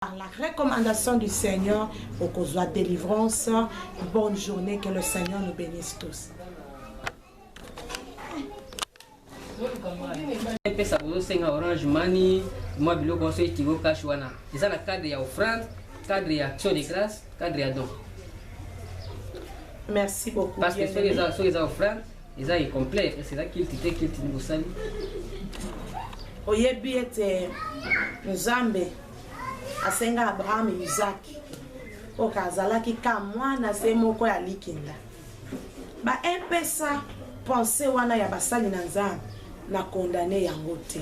Par la recommandation du Seigneur, okozwa délivrance. Bonne journée, que le Seigneur nous bénisse tous. epesa bozosenga orange mani mwa biloko nyonso ekigo cash wana eza na cadre ya offrande cadre ya action de grâce cadre ya don merci beaucoup parce que soki eza offrande eza incomplet epesi eza kilti te kilti ni bosali oyebi ete nzambe asenga abraham izaki oka azalaki ka mwana se moko ya likinda baepesa pense wana ya basali na nzambe na kondane yango te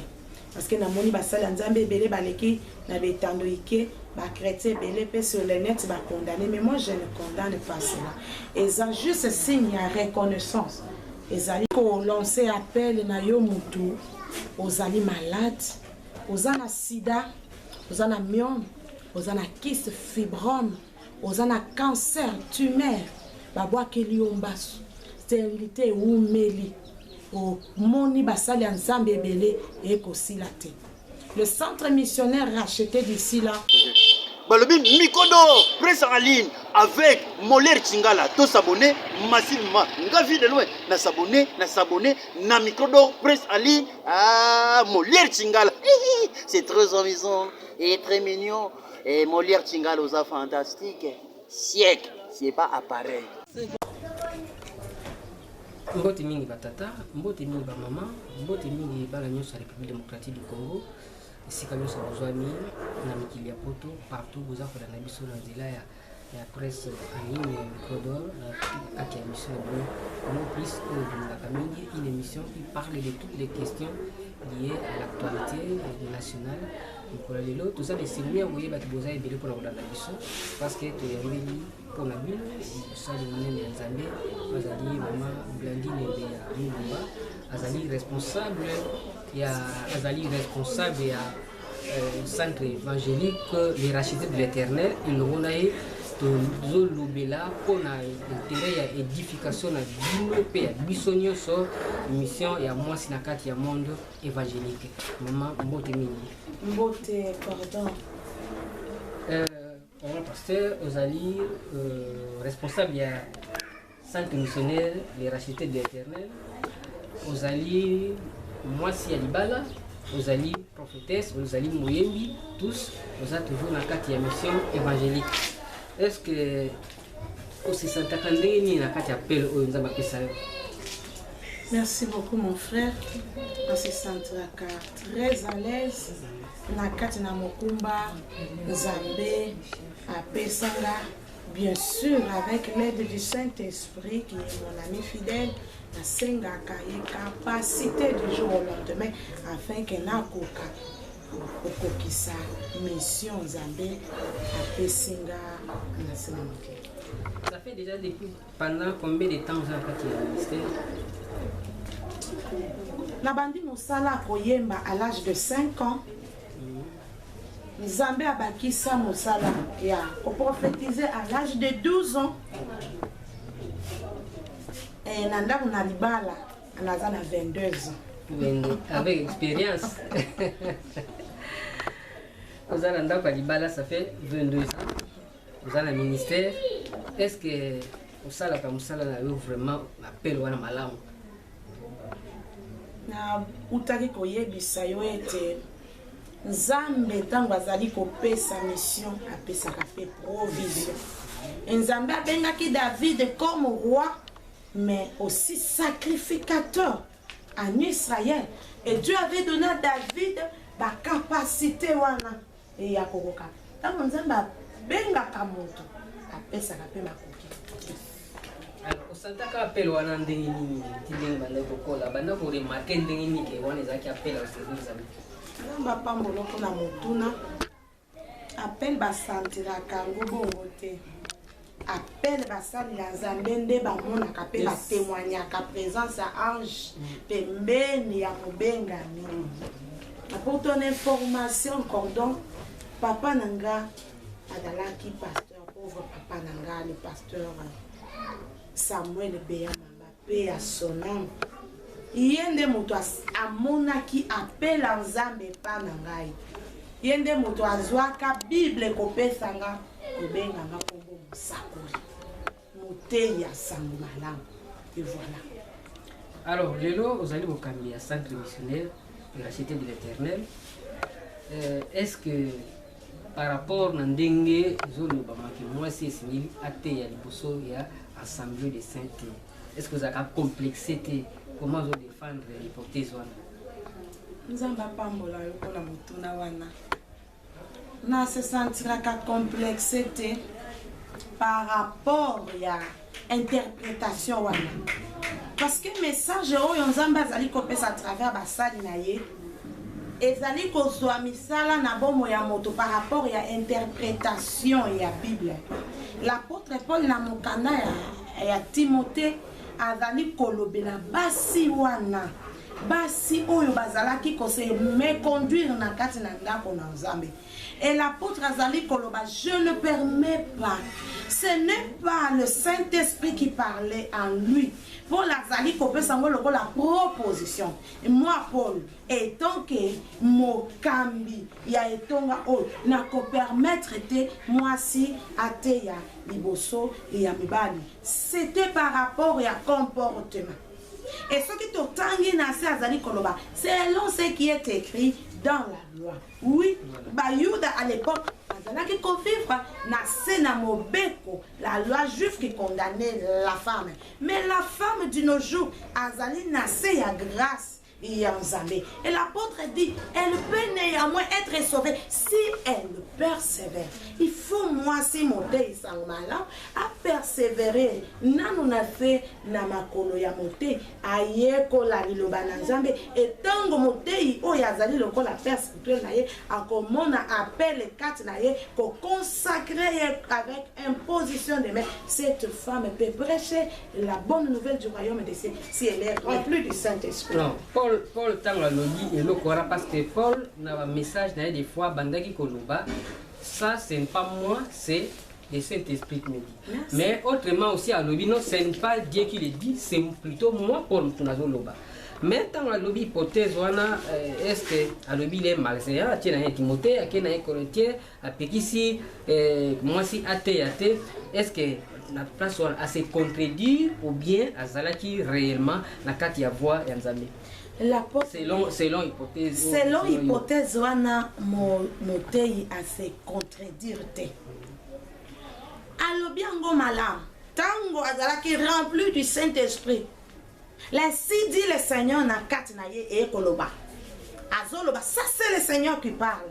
parce que namoni basali ya nzambe ebele baleki na betando ike bachrétien ebele mpe sur le net bacondamne mais moi je ne condamne pas cela eza juste signe ya reconnaissance ezali kolance appel na yo motu ozali malade oza na sida oza na miome oza na kiste fibrome oza na cancer tumeur babwakeli yo mbasu sterilite ewumeli omoni basali ya nzambe ebele ekosila te le centre missionnaire racheté d'ici là balobi mikodo prince aline avec moler chingala to s'abonner massivement nga vie de loin na s'abonner na s'abonner na mikodo prince aline ah, moler chingala c'est très amusant et très mignon Eh, Molière Chingala oza fantastique. Siècle, c'est pas appareil. mbote mingi batata mbote mingi bamama mbote mingi bana nyonso ya république démocratique du congo esika nyonso bozwami na mikili ya poto partout boza kolanda biso na nzela ya ya presse en ligne ya micro d'or na kati ya mission na bino vraiment plus oyo tolingaka mingi une émission qui parle de toutes les questions liées à l'actualité nationale mokolo ya lelo toza na esengo ya koyeba ti boza ebele mpona kolanda biso parce que toyambeli mpona bino mosali monene ya nzambe azali mama blandine mbe ya mulumba azali responsable ya azali responsable ya Euh, centre évangélique les rachetés de l'éternel elongo na ye tozolobela mpo na intere ya édification na bino mpe ya biso nyonso mission ya mwasi na kati ya monde évangélique mama mbote mingi mbote pardon euh, pasteur ozali euh, responsable ya Sainte missionnaire les rachetés de l'Éternel, ozali mwasi ya libala, ozali prophétesse, ozali moyembi, tous oza toujours na kati ya mission évangélique. Est-ce que osesantaka ndenge nini na kati ya appel oyo Nzambe apesa yo? Merci beaucoup mon frère. On se sentira très à l'aise na kati na mokumba Nzambe apesa nga Bien sûr, avec l'aide du Saint-Esprit, qui est mon ami fidèle, nasengaka ye capacité du jour au lendemain afin que nakoka kokokisa mission nzambe apesi nga na se na mokili Ça fait déjà depuis pendant combien de temps ozalaka kati ya ministère nabandi mosala koyemba à l'âge de 5 ans Nzambe abakisa mosala ya koprofetize à l'âge de 12 ans eh, na ndako na libala naza na 22 ans ndenge avec expérience oza na ndako ya libala ça fait 22 ans oza na ministère est ce que osalaka mosala na yo vraiment appel wana malamu nautaki koyebisa yo ete nzambe ntango azali kopesa mission apesaka mpe provision e nzambe abengaki david comme roi mais aussi sacrificateur en israël et dieu avait donné à david bacapacité wana Ee, akokoka. Ntango Nzambe abengaka moto, apesaka mpe makoki. Alors, osantaka appel wana ndenge nini ti ndenge banda kokola banda koremarke ndenge nini ke wana ezalaki appel ya osengeli nzambe nzambe apambola mpona motuna appel basantiraka yango bongo te appel basali ya nzambe nde bamonaka mpe batemoignaka présence ya ange pembeni ya mobengami apotona information cordon papa na nga azalaki pasteur pauvre papa na nga le pasteur samuel beya mamba Paix à son âme. Ye nde moto as- amonaki appel ya Nzambe epai na ngai. Ye nde moto azwaka Bible kopesa nga, kobenga nga kombo mosakoli, moteyi ya sango malamu. Et voilà. Alors, lelo ozali mokambi ya centre missionnaire irachete de l'éternel. Euh, Est-ce que Par rapport na ndenge ezolobama ke mwasi esengeli ateya liboso ya assemblee de saint te est ce que ozalaka complexe te comment ozo défendre hypothèse wana nzambe apambola yo mpo na motuna wana na se sentiraka complexe te par rapport ya interpretation wana parce que message oyo nzambe azali kopesa à travers basali na ye ezali kozwa misala na bomo ya moto par rapport ya interpretation ya bible l'apôtre paul na mokanda ya, ya timote azali kolobela basi wana basi oyo bazalaki kose meconduire na kati na ndako na nzambe Et l'apôtre Azali Koloba, je ne permets pas. Ce n'est pas le Saint-Esprit qui parlait en lui. Paul azali kopesa yango lokola proposition moi paul etant ke mokambi ya etonga oyo nakopermettre te mwasi ateya liboso ya mibali c'était par rapport ya comportement e soki totangi na se azali koloba selon ce qui est écrit dans la loi Oui, Bayuda à l'époque, bazalaki ko vivre na se na mobeko, la loi juive qui condamnait la femme. Mais la femme de nos jours azali na se ya grâce ya Nzambe. Et l'apôtre dit, elle peut néanmoins être sauvée si elle persévère. Il faut moi si mon dei sangmala a persévérer nanu na se na makolo ya mote Ayekola Liloba na Nzambe, e ntango motei oyo azali lokola père spirituel na ye akomona appele kati na ye, ko consacrer ye avec imposition de main, cette femme peut precher la bonne nouvelle du royaume des cieux si elle est remplie du Saint-Esprit. Non, Paul, Paul ntango alobi eloko wana parce que Paul na ba message na ye des fois abandaki koloba ça c'est pas moi, c'est Je sais t'explique Midi. Merci. Mais autrement aussi alobi non ce n'est pas Dieu qui le dit, c'est plutôt moi Paul mutu nazo loba. Mais ntango alobi hypothèse wana euh, est-ce que alobi le malseya atie na ye Timothée ake na ye Corinthien apekisi euh, mwasi ateya te est-ce que na place wana ase contredire ou bien azalaki réellement na kati ya voie ya Nzambe selon, selon hypothèse selon hypothèse wana moteyi ase contredire te alobi yango malamu ntango azalaki rempli du saint esprit lainsi dit le seigneur na kati na ye eye koloba azoloba ça c'est le seigneur qui parle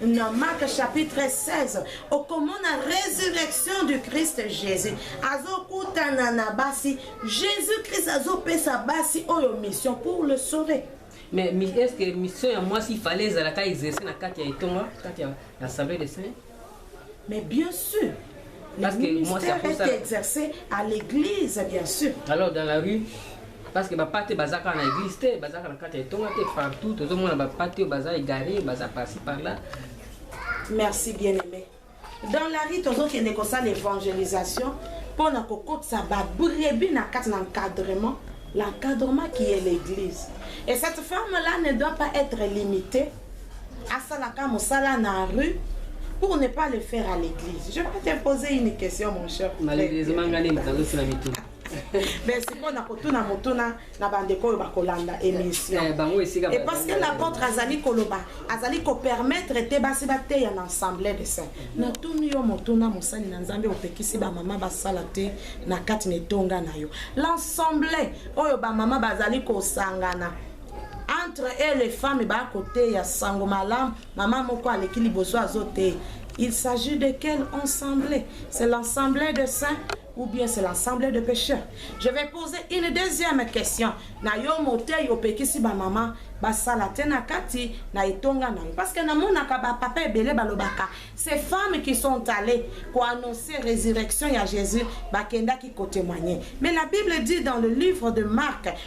na mark chapitre 16 okomona résurrection du christ jésus azokutana na basi jésus christ azopesa basi oyo mission pour le sauver mais est ce que mission ya mwasi ifale ezalaka exerce na kati ya etonga kati ya assemblée de saint mais bien sûr Parce le ministère est exercé à l'église bien sûr alors dans la rue parce que bapate baza kaka na église te baza kaka na kati ya etonga te partout tozomona bapate oyo baza égaré baza parci par là merci bien aimé dans la rue tozokende kosala évangélisation mpo na kokotisa babrebi na kati na encadrement l'encadrement qui est l'église et cette femme là ne doit pas être limitée asalaka mosala na rue pour ne pas le faire à l'église je vais te poser une question mon cher malheureusement ngai nde moto azosila mituka mais sikoyo na kotuna motuna na bandeko oyo bakolanda émission eh, eh, et parce que l'apôtre azali koloba azali kopermettre te basi bateya na assemblée de saint natuni yo motuna mosali na nzambe opekisi bamama basala te na kati na etonga na yo l'assemblée oyo bamama bazali kosangana entre e les femmes bakoteya sango malamu mama moko aleki liboso azoteya il s'agit de quelle assemblée c'est l'assemblée de saint ou bien c'est l'ensemble de pêcheurs je vais poser une deuxième question na yo motei opekisi bamama basala te na kati na etonga na yo parce que namonaka bapapa ebele balobaka ces femmes qui sont allées koannonce résurrection ya jésus bakendaki kotémoigne mais la bible dit dans le livre de marc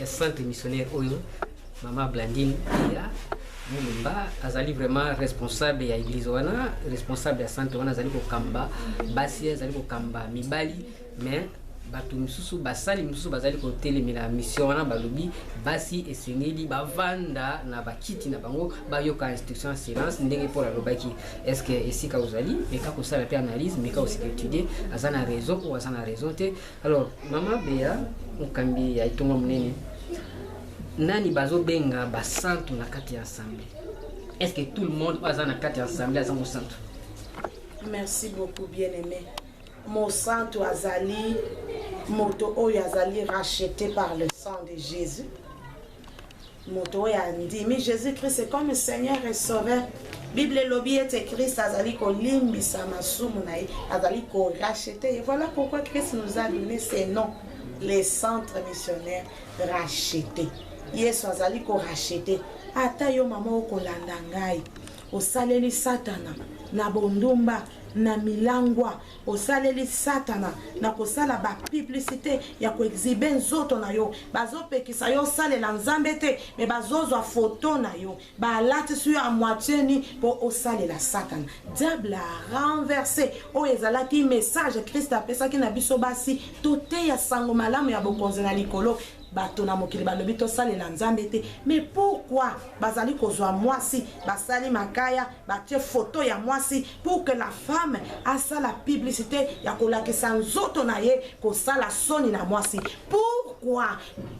ya centre missionnaire oyo mama blandine ya mulumba azali vraiment responsable ya église wana responsable ya centre wana azali kokamba basi azali kokamba mibali mais bato mosusu basali mosusu bazali kotelemela mission wana balobi basi esengeli bavanda na bakiti na bango bayoka instruction ya silence ndenge paul alobaki estce esika ozali meka kosala mpe analyse meka osika étudie aza na raison oyo aza na raison te Alors, Mama Bea, mokambi ya etonga monene, nani bazobenga basantu na kati ya ensemble Est-ce que tout le monde oyo aza na kati ya ensemble aza mosantu Merci beaucoup, bien-aimé. Mosantu azali moto oyo azali racheté par le sang de Jésus. Moto oyo andimi Jesus Christ comme Seigneur et Sauveur bible elobi ete krist azali kolimbisa masumu na ye azali korachete ye voilà pourquoi krist nous a donné ce nom le centre missionnaire rachete yesu azali korachete ata yo mama okolanda ngai osaleli satana na bondumba na milangwa osaleli satana na kosala ba publicite ya koexhibe nzoto na yo bazopekisa yo osalela nzambe te me bazozwa foto na yo balatisi yo a moitie ni mpo osalela satana diable a renverse oyo ezalaki message krist apesaki na biso basi toteya sango malamu ya bokonzi na likolo bato na mokili balobi tosalela nzambe te me pourkui bazali kozwa mwasi basali makaya batie photo ya mwasi pour que la femme asala publicité ya kolakisa nzoto na ye kosala soni na mwasi pourquoi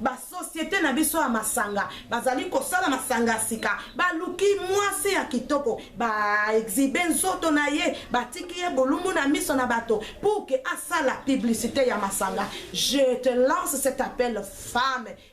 basociété na biso ya masanga bazali kosala masanga ya sika baluki mwasi ya kitoko baexibe nzoto na ye batiki ye bolumbu na miso na bato pour que asala publicité ya masanga je te lance cet appel femme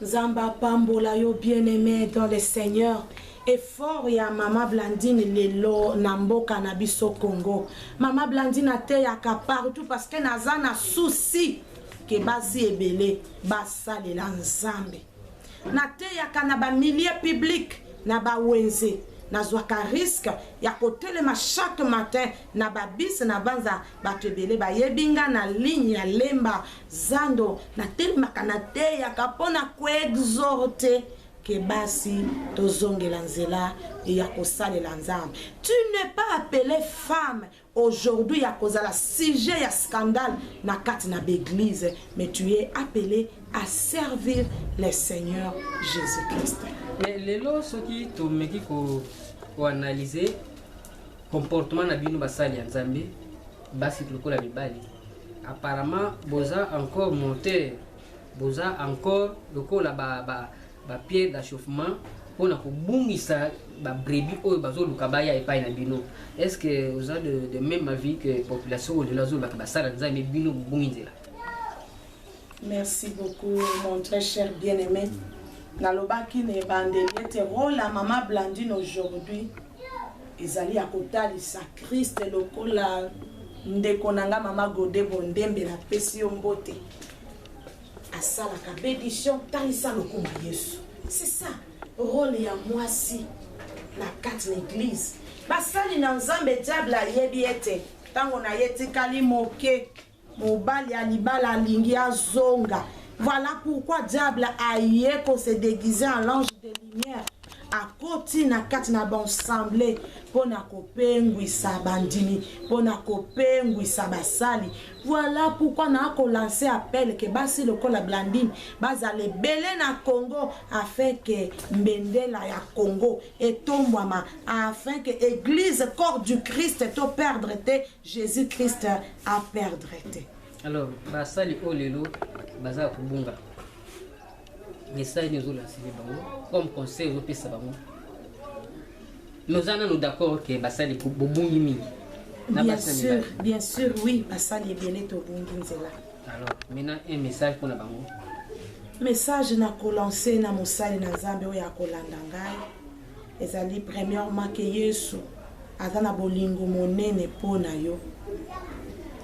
Nzambe apambola yo bien aime dans le seigneur effort ya mama blandine lelo na mboka na biso congo mama blandine ateyaka partout parce que naza na souci ke basi ebele basalela nzambe nateyaka na bamilieu public na bawenze nazwaka riske ya kotelema chaque matin na babise nabanza bato ebele bayebi nga na ligne ya lemba Zando natelemaka nateyaka mpo na koexorte ke basi tozongela nzela ya kosalela nzambe tu ne pas appele femme aujourd'hui ya kozala sujet ya scandale na kati na baeglise mais tu es appelé à servir le seigneur jésus christ mais lelo soki tomeki koanalyse comportement na bino basali ya nzambe basi lokola mibali apparemment boza encore monter boza encore lokola ba, ba, ba pierre d'achauffement mpo na kobungisa babrebi oyo bazoluka baya epai na bino est ce que oza de, de même avis que population oyo lelo azolobaka basala nzambe bino bobungi nzela Merci beaucoup mon très cher bien aimé. Nalobaki na ebandeli ete role ya mama Blandine aujourd'hui ezali ya kotalisa Christ lokola ndeko na nga mama Gode Bondembe napesi yo mbote asalaka bedition talisa lokumu ya Yesu. C'est ça role ya mwasi na kati na eglise. Basali na Nzambe diable ayebi ete ntango na ye etikali moke. mobali ya libala alingi azonga voilà pourquoi diable aye ko se déguiser en l'ange de lumière akoti na kati na baensemble mpo na kopengwisa bandimi mpo na kopengwisa basali voilà pourquoi naa kolanse appel ke basi lokola blandine bazala ebele na congo afin ke mbendela ya congo etombwama afin ke église corps du christ toperdre te Jesus Christ a perdre te. Alors basali oyo lelo baza kobunga message nini ozolasili bango comme conseil ozopesa bango noza nano d'accord ke basali bobungi mingi bien sûr bien sûr oui basali ebele tobungi nzela alors maintenant un message mpona bango message nakolanse na mosali na nzambe oyo akolanda ngai ezali premièrement ke yesu aza na bolingo monene mpo na yo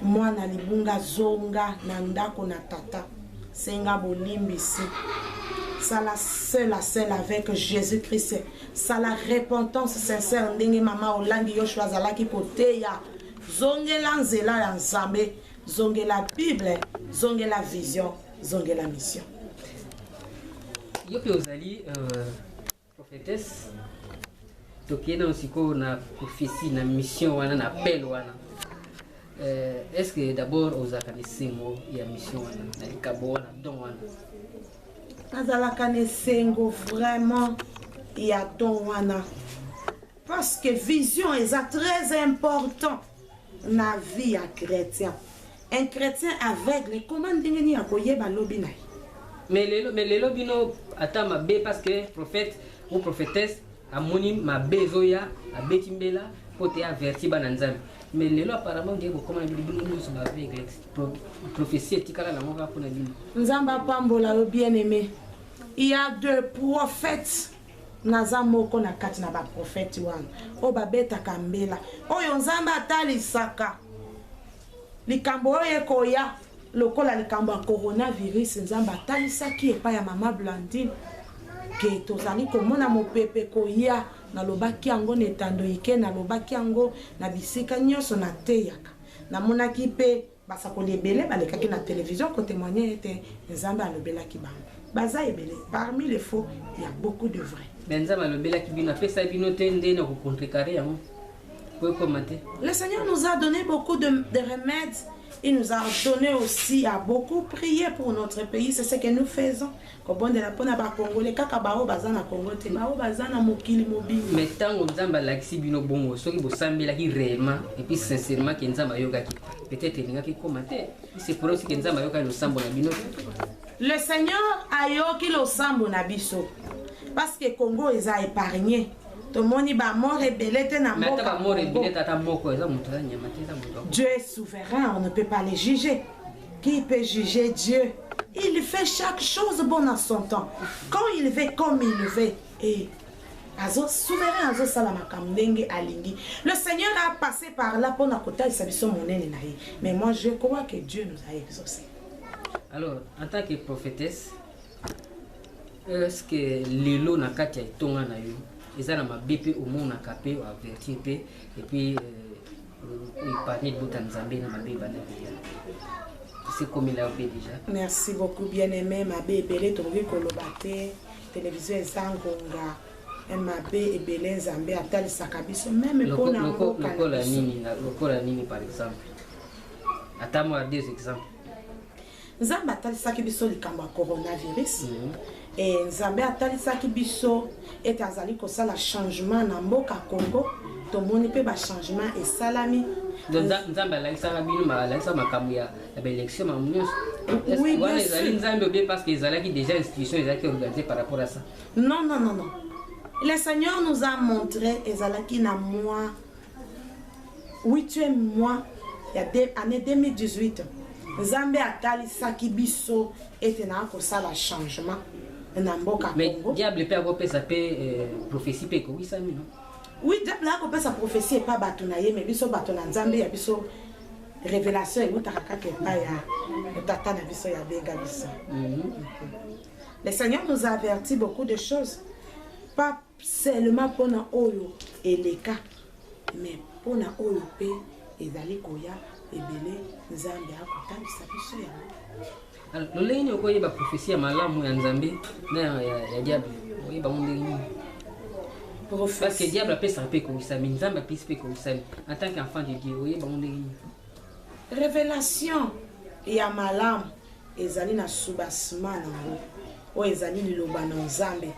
mwana libunga zonga na ndako na tata senga bolimbisi sala seul à seul avec jésus christ sala repentance sincère ndenge mama olangi yoshua azalaki koteya zongela nzela ya nzambe zongela bible zongela vision zongela mission yo mpe ozali euh, Prophetesse, tokei nano sikoyo na prophetie na mission wana na appel wana euh, est ce que d'abord ozalaka na esengo ya mission wana na likabo wana don wana nazalaka na esengo vraiment ya don wana parce que vision eza très important na vie ya chretien un chretien aveugle comment ndenge nini akoyeba lobi na ye mais lelo mais lelo bino ata mabe parce que prophète ou prophétesse amoni mabe ezoya abeti mbela mpo te averti bana nzambe mais lelo apparemment nde bokoma na bino bino nyonso baaveugle prophétie etikala nango kaka mpo na bino nzambe apambola yo bien aimé il y a de prophètes Naza moko na kati na ba prophète wana oyo babetaka mbela oyo Nzambe atalisaka likambo oyo ekoya lokola likambo ya coronavirus Nzambe atalisaki epai ya mama Blandine ke tozali komona mopepe koya nalobaki yango na etando ike nalobaki yango na bisika nyonso nateyaka namonaki mpe Basakoli ebele balekaki na television ko temoigner ete Nzambe alobelaki bango. Baza ebele parmi les faux, il y a beaucoup de vrais. Mais Nzambe alobelaki bino, apesa bino te nde na ko contrecarrer yango. Ko ekoma te. Le Seigneur nous a donné beaucoup de, de remèdes Il nous a donné aussi à beaucoup prier pour notre pays. C'est ce que nous faisons. kobondela mpo na bakongole kaka baoyo baza na kongo te baoyo baza na mokili mobimba me ntango nzambe alakisi bino bongo soki bosambelaki réellement epuis sincèrement ke nzambe ayokaki peut-être elingaki ekoma te se pourrait aussi ke nzambe ayokaki losambo na bino le seigneur ayoki losambo na biso parce que congo eza épargne tomoni bamort ebele te na mboka dieu est souverain on ne peut pas les juger Qui peut juger Dieu? Il fait chaque chose bon à son temps. Quand il veut, comme il veut. Et azo souverain azosala makambo ndenge alingi le seigneur a passé par là mpo na kotalisa biso monene na ye mais moi je crois que dieu nous a exaucé alors en tant que prophétesse est ce que lelo na kati ya etonga na yo eza na mabe mpe omonaka mpe oavertir mpe epuis euh, epargne libota nzambe na mabe ebanda koya esekomela yo mpe deja merci beaucoup bien aimé mabe ebele tokoki koloba te televizio eza ngonga eh, mabe ebele nzambe atalisaka biso meme mpona mboka nini par exemple ata mwa deux exemples Nzambe atalisaki biso likambo ya coronavirus mm -hmm. e, Nzambe atalisaki biso ete azali kosala changement na mboka Congo. Tomoni mpe bachangement esalami. Nzambe alakisaka bino alakisa makambo ya baélection makambo nyonso oui, wana ezali Nzambe obie parce que ezalaki déjà institution ezalaki organisée par rapport à ça. Non, non, non, non. Le Seigneur nous a montré ezalaki na mois Huitième mois ya année 2018 nzambe atalisaki biso ete naa kosala changement na mboka Congo. Diable pe akopesa pe euh, prophetie pe ekowisami no. Oui, diable akopesa prophetie epa bato na ye, mais biso bato na nzambe ya biso révélation ewutaka kaka epai ya tata na biso ya benga biso. Mm -hmm. Le Seigneur nous a averti beaucoup de choses. Pas seulement pona oyo eleka mais pona oyo pe ezali koya ebele nzambe akotalisa biso yango lolenge nini okoyeba profesi ya malamu ya nzambe na ya diable oyeba ngo ndenge nini parce que diable apesaka mpe ekomisami nzambe apesi mpe ekomisami en tant qu'enfant de dieu oyeba ngo ndenge nini révélation ya malamu Ezali na soubassement na ngo. Oyo ezali liloba na Nzambe.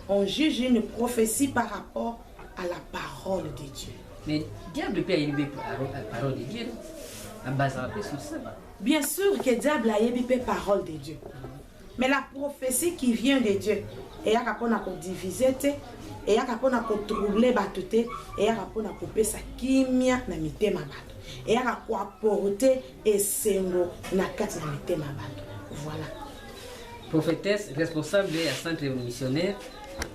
On juge une prophetie par rapport à la parole de Dieu. Mais diable pe ayebi pe parole de Dieu. Abazaka pe sur ça. Bien sûr que diable ayebi pe parole de Dieu. Mais la prophétie qui vient de Dieu eyaka mpona kodivize te eyaka mpona kotrouble bato te eyaka mpona kopesa kimia na mitema bato eyaka koaporte esengo na kati na mitema ya bato voilà prophétesse responsable ya centre missionnaire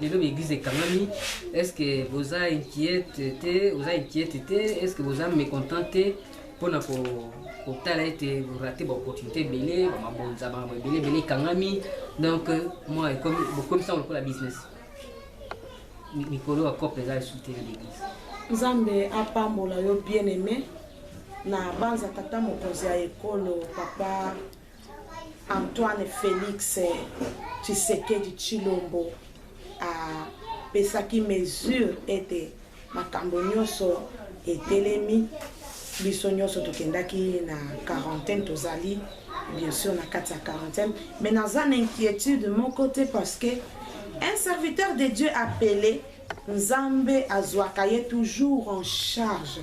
lelo baeglise ekangami est ce que boza inquiète te oza inquiète te est ce que boza mécontent te mpona ko kotala ete borate baopportunité ebele bamabonza makambo ebele ebele ekangami donc moi bokomisango lokola business likolo ya cope eza lisusu te l'église nzambe apambola yo bien aimé na banza tata mokonzi ya ekolo papa antoine félix tshisekedi tshilombo apesaki mesure ete Makambo nyonso etelemi, biso nyonso tokendaki na quarantaine, tozali bien sûr na kati ya quarantaine, mais naza na inquiétude moko te parce que un serviteur de Dieu appelé Nzambe azwaka ye toujours en charge.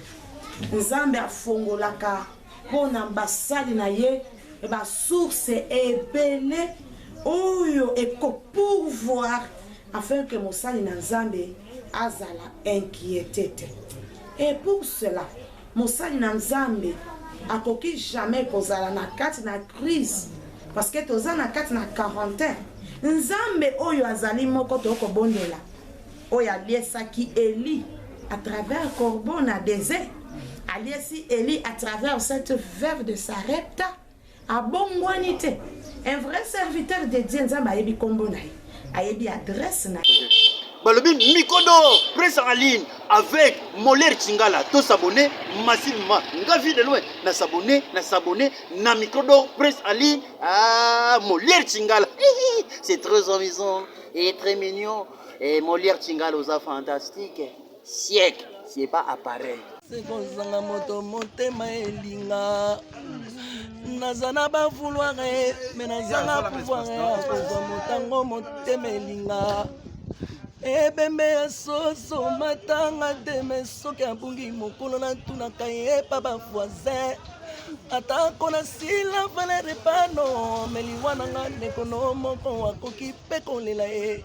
Nzambe afongolaka mpo na basali na ye basource ebele oyo ekopourvoir afin que mosali na Nzambe azala inquiete te. Et pour cela, mosali na Nzambe akoki jamais kozala na kati na crise parce que toza na kati na quarantaine. Nzambe oyo azali moko tokobondela oyo aliesaki Eli à travers corbeau na desert aliesi Eli à travers cette veuve de Sarepta Abongwani te. Un vrai serviteur de Dieu, Nzambe ayebi kombo na ye. Ayebi adresse na ye. balobi micro d'or presse en ligne avec moler chingala to s'abonner massivement nga vie de loin na s'abonner na s'abonner na micro d'or presse en ligne ah moler chingala c'est très amusant et très mignon et moler chingala oza fantastique siècle c'est pas appareil sekozanga moto motema elinga naza na bavouloire me nazanga pouvoir ya kozwa motango motema elinga ebembe ya soso matanga te me soki abungi mokolo natunaka ye epa bavoisin atako nasila valere pano meliwa na nga ndeko no moko akoki mpe kolela ye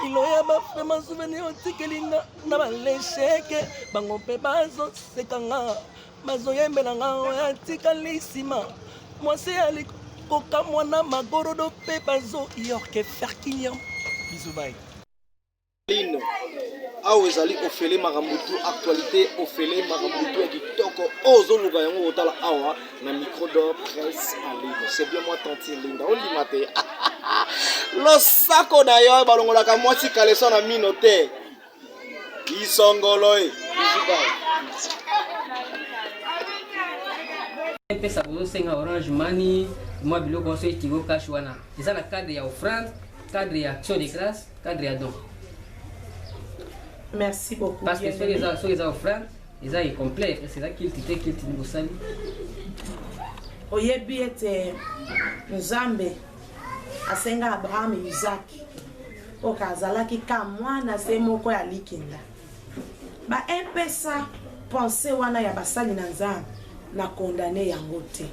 kilo ya bafrema souvenir otikeli nga na balesheke bango mpe bazoseka nga bazoyembela nga oyo atikali nsima mwasi ya likokamwa na magorodo mpe bazoyorke ferkiniam bizubai lino awa ezali ofele makambo tu actualité ofele makambo tu ya kitoko oyo ozoluka yango kotala awa na micro d'or presse en ligne c'est bien moi tantine linda ondima te losako na yo balongolaka mwasi kaleso na mino te isongolo e epesa bozosenga orange mani mwa biloko nyonso etigo cash wana eza na cadre ya offrande cadre ya action de grâce cadre ya don merci beaucoup parce que soki eza offrande eza incomplet kasi eza kilti te kilti nde bosali oyebi ete nzambe asenga abraham isaki oka azalaki ka mwana se moko ya likinda baepesa pense wana ya basali na nzambe na kondane yango te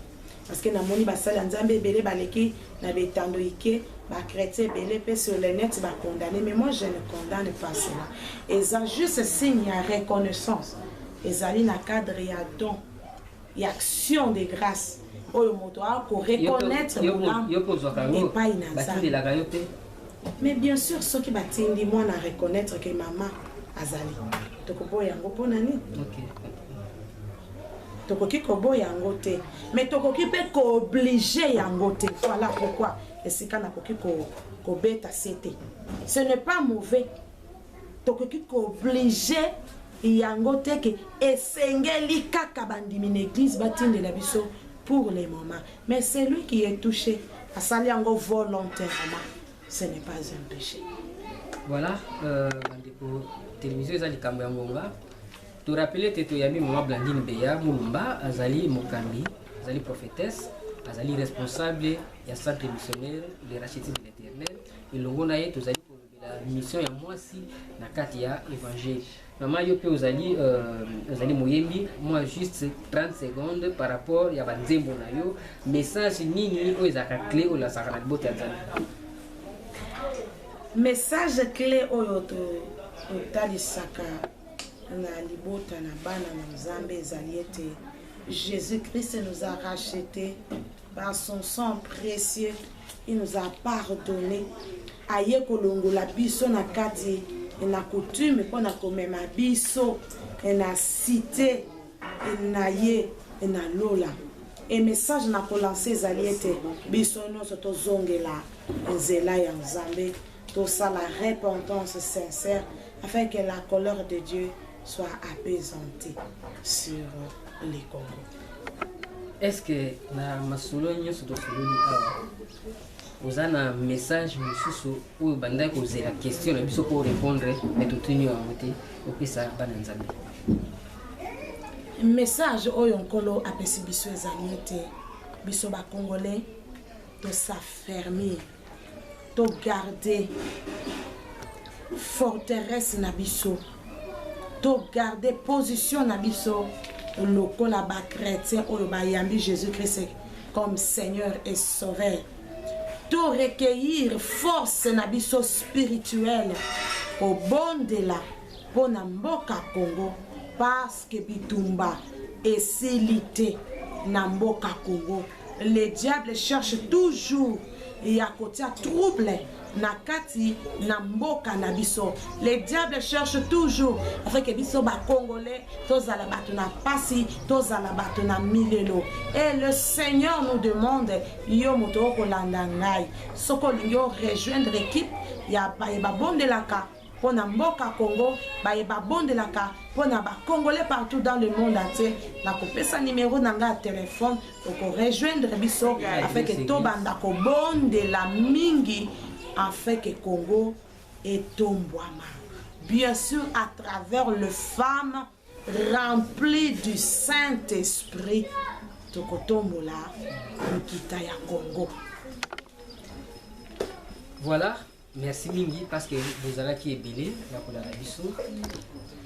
Parce que namoni basali ya Nzambe ebele baleki na betando ike ba chrétiens ebele pe sur le net ba condamner mais moi je ne condamne pas cela. Eza juste signe ya reconnaissance. Ezali na cadre ya don ya action de grâce oyo moto akoreconnaitre bolamu epai na nzambe mais bien sûr soki batindi mwana areconnaitre ke mama azali tokoboya yango mpo na nini tokoki koboya yango te mais tokoki mpe kooblige yango te voilà pourquoi esika nakoki kobeta ko se te ce n'est pas mauvais tokoki kooblige yango te ke esengeli kaka bandimi na église batindela biso pour le moment mais celui qui est touché asali yango volontairement ce n'est pas un péché voilà euh, bandeko télévision eza likambo ya ngonga To rappeler te toyambi mama Blandine Beya Mulumba azali mokambi, azali prophetesse, azali responsable ya centre missionnaire de rachetisme de l'Éternel. Elongo na ye tozali kolobela mission ya mwasi na kati ya evangile. Mama yo mpe ozali euh, ozali moyembi mwa juste 30 secondes par rapport ya banzembo na yo message nini oyo ezalaka cle oyo lazaka na libota ya nzambe message cle oyo totalisaka to na libota na bana na nzambe ezali ete jésus christ nous a rachete par son sang précieux il nous a pardonné aye kolongola biso na kati na coutume mpo na komema biso na site na ye na lola e message na kolanse ezali ete biso nyonso tozongela nzela ya nzambe tosala repentance sincère afin que la colère de Dieu soit apaisante sur le Congo. Est-ce que na masolo nyonso tosololi awa oza na message mosusu oyo bandaki kozela question na biso mpo orépondre me totuni yango te opesa bana nzambe message oyo nkolo apesi biso ezali ete biso bakongolais tosafermir togarde forteresse na biso togarde position na biso lokola bachrétien oyo bayambi jésus christ comme seigneur et sauveur to recueillir force na biso spirituelle kobondela mpo na mboka congo parce que bitumba esili te na mboka congo Le diable cherche toujours ya kotia trouble na kati na mboka na biso le diable cherche toujours afeke biso bacongolais tozala bato na mpasi tozala bato na milelo e le seigneur nous demande yo moto okolanda ngai soki olingi orejoindre ekipe ya baye babondelaka mpo na mboka Congo baye babondelaka mpo na ba congolais partout dans le monde entier nakopesa numero na ngai ya telephone oko rejoindre biso afin que tobanda kobondela mingi afin que Congo etombwama bien sûr à travers le femme rempli du Saint-Esprit tokotombola nkita ya Congo voilà merci mingi parce que bozalaki ebele na kolanda biso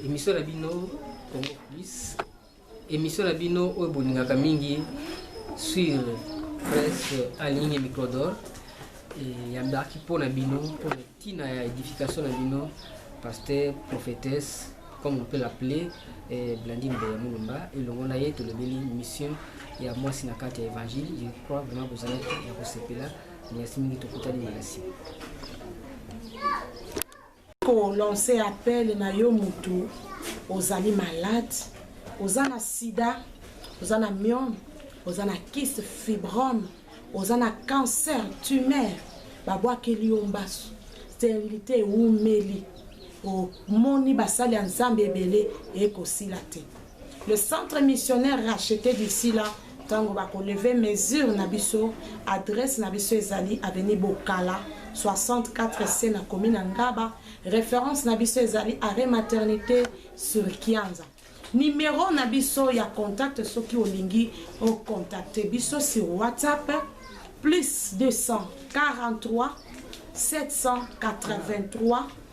émission na bino congo plus émission na bino oyo bolingaka mingi sur presse en ligne microdor eyambaki mpo na bino mpo na ntina ya édification na bino pasteur prophétesse comme on peut l'appeler eh, blandine beya mulumba elongo na ye tolobeli mission ya mwasi na kati ya évangile je crois vraiment bozalaki ya kosepela Merci mingi tokutani na nsima. kolanse appel na yo motu ozali malade oza na sida oza na miome oza na kiste fibrome oza na cancer tumeur babwakeli yo mbasu sterilité ewumeli omoni basali ya nzambe ebele ekosila te Le centre missionnaire racheté d'ici là ntango bakoleve mesure na biso adresse na biso ezali avenue bokala 64 c na commune ya ngaba référence na biso ezali arrêt maternité sur kianza numero na biso ya contact soki olingi ocontacte biso sur whatsapp plus 243 783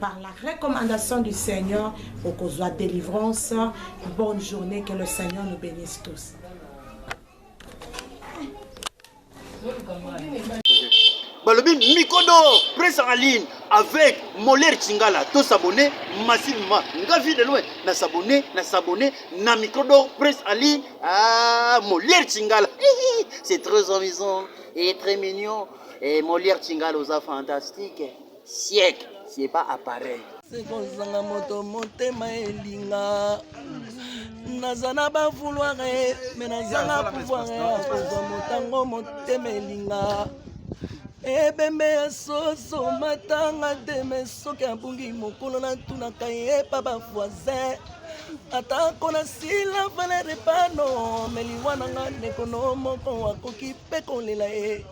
Par la recommandation du Seigneur, okozwa délivrance. Bonne journée, que le Seigneur nous bénisse tous. balobi mikodo presse en ligne avec moler chingala to s'abonner massivement nga vie de loin na s'abonner na s'abonner na mikodo presse en ligne ah moler chingala c'est très amusant et très mignon et moler chingala oza fantastique Siècle, c'est pas appareil. Sekozanga moto motema elinga naza na ba vouloir me nazanga pouvoir ya kozwa motango motema elinga ebembe ya soso matanga te me soki abungi mokolo natunaka ye epa bavoisin atako nasila valere pano me liwa na nga ndeko no moko akoki mpe kolela ye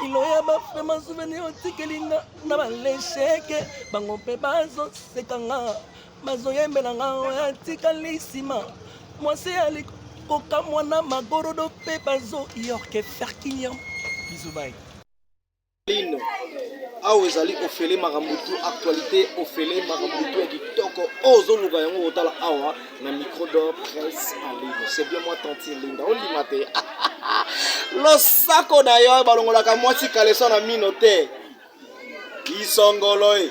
kilo ya bafema souvenir otikeli nga na balesheke bango mpe bazoseka nga bazoyembela nga oyo atikali nsima mwasi ya likokamwa na magorodo mpe bazoyorke ferkiniam bizubai lino awa ezali ofele makambo tu actualité ofele makambo tu ya kitoko oyo ozoluka yango kotala awa na micro d'or presse en ligne c'est bien moi tantine linda olima te losako na yo balongolaka mwasi kaleso na mino te isongolo e